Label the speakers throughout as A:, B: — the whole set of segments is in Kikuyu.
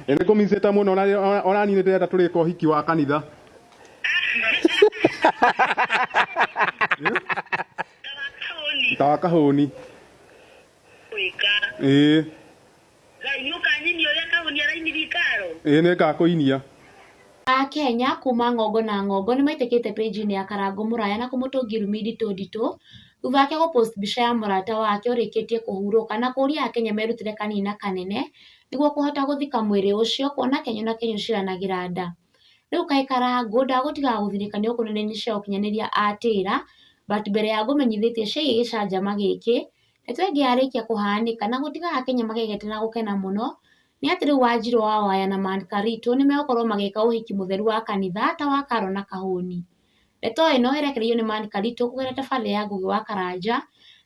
A: Ĩ nĩ kũmicĩte mũno na ona- ona niĩ nĩ ndĩrenda tũrĩka ũhiki wa kanitha Ndagakoni ta wa kahũni
B: gwĩka. ĩĩ Ngai nĩ ũkanyinia ũrĩa kahuni arainithia ikaro. ĩĩ nĩ
A: ngakũinia Akenya
C: kuma ng'ongo na ng'ongo nĩmaitĩkĩte page-inĩ ya Karangũ Mũraya na kũmũtũngia irumi nditũ nditũ thutha wake gũ post mbica ya mũrata wake ũrĩkĩtie kũhurũka na kũria akenya merutĩre kanini na kanene nĩguo kũhota gũthika mwĩrĩ ũcio kuona kenyo na kenyo ciranagĩra nda. Rĩu kaĩ karangũ ndagũtiga gũthirĩka nĩ gũkorwo nĩ cia ũkinyanĩria atĩra but mbere ya ngũmenyithĩtie ciĩgiĩ gĩcanjama gĩkĩ, ndeto ĩngĩarĩkia kũhanĩka na gũtiga akenya magegete na gũkena mũno, nĩ atĩ rĩu wanjiru wa waya na man karitũ nĩ megũkorwo magĩka ũhiki mũtheru wa kanitha ta wa karo na kahũni. Ndeto ĩno ĩrekereirio nĩ Mark Karitũ kũgerera tabarĩra ya Ngũgĩ wa Karanja,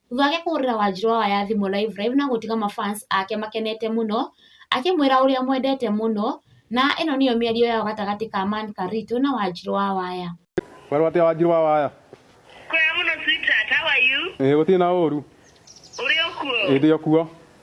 C: thutha wake kũhũrĩra Wanjirũ waya ya thimũ Live Live na gũtiga ma fans ake makenete mũno, akĩmwĩra ũrĩa amwendete mũno, na ĩno nĩyo mĩario yao gatagatĩ ka Man Karitũ na Wanjirũ wa waya. Kwerwo atĩa Wanjirũ
A: wa waya? Kwega mũno
B: sweetheart, how are you? Ĩĩ gũtirĩ na ũru.
A: Ũrĩ o
B: kuo? Ĩĩ ndĩ o kuo.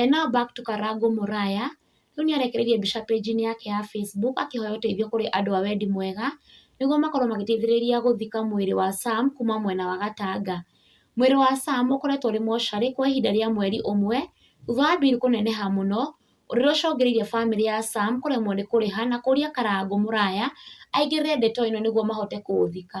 A: E
C: now back to Karangũ Mũraya, rĩu nĩ arekereirie mbica page-inĩ yake ya Facebook akĩhoya ũteithio kũrĩ andũ a wendi mwega nĩguo makorwo magĩteithĩrĩria gũthika mwĩrĩ wa Sam kuma mwena wa Gatanga. Mwĩrĩ wa Sam ũkoretwo ũrĩ mocarĩ kwa ihinda rĩa mweri ũmwe thutha wa bill kũneneha mũno ũrĩa ũcũngĩrĩirie bamĩrĩ ya Sam kũremwo nĩ kũrĩha na kũria Karangũ Mũraya aingĩrĩre ndeto ĩno nĩguo mahote kũũthika.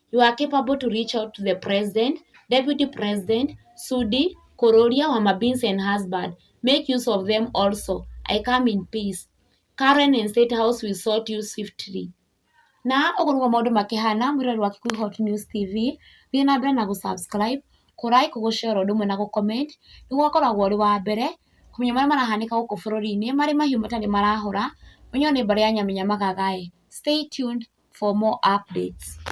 C: you are capable to reach out to the president, deputy president, Sudi, Kororia, Wamabins and husband. Make use of them also. I come in peace. Karen and State House will sort you swiftly. Na ũguo nĩguo maũndũ makĩhana mwĩrori wa Kikuyu Hot News TV thiĩ na mbere na gũ-subscribe, kũrai, kũgũshare ũndũ ũmwe na gũ-comment nĩguo ũkoragwo ũrĩ wa mbere kũmenya marĩa marahanĩka gũkũ bũrũri-inĩ marĩ mahiũ matarĩ marahũra ũnyone mbarĩ ya nyamenya magaga. Stay tuned for more updates.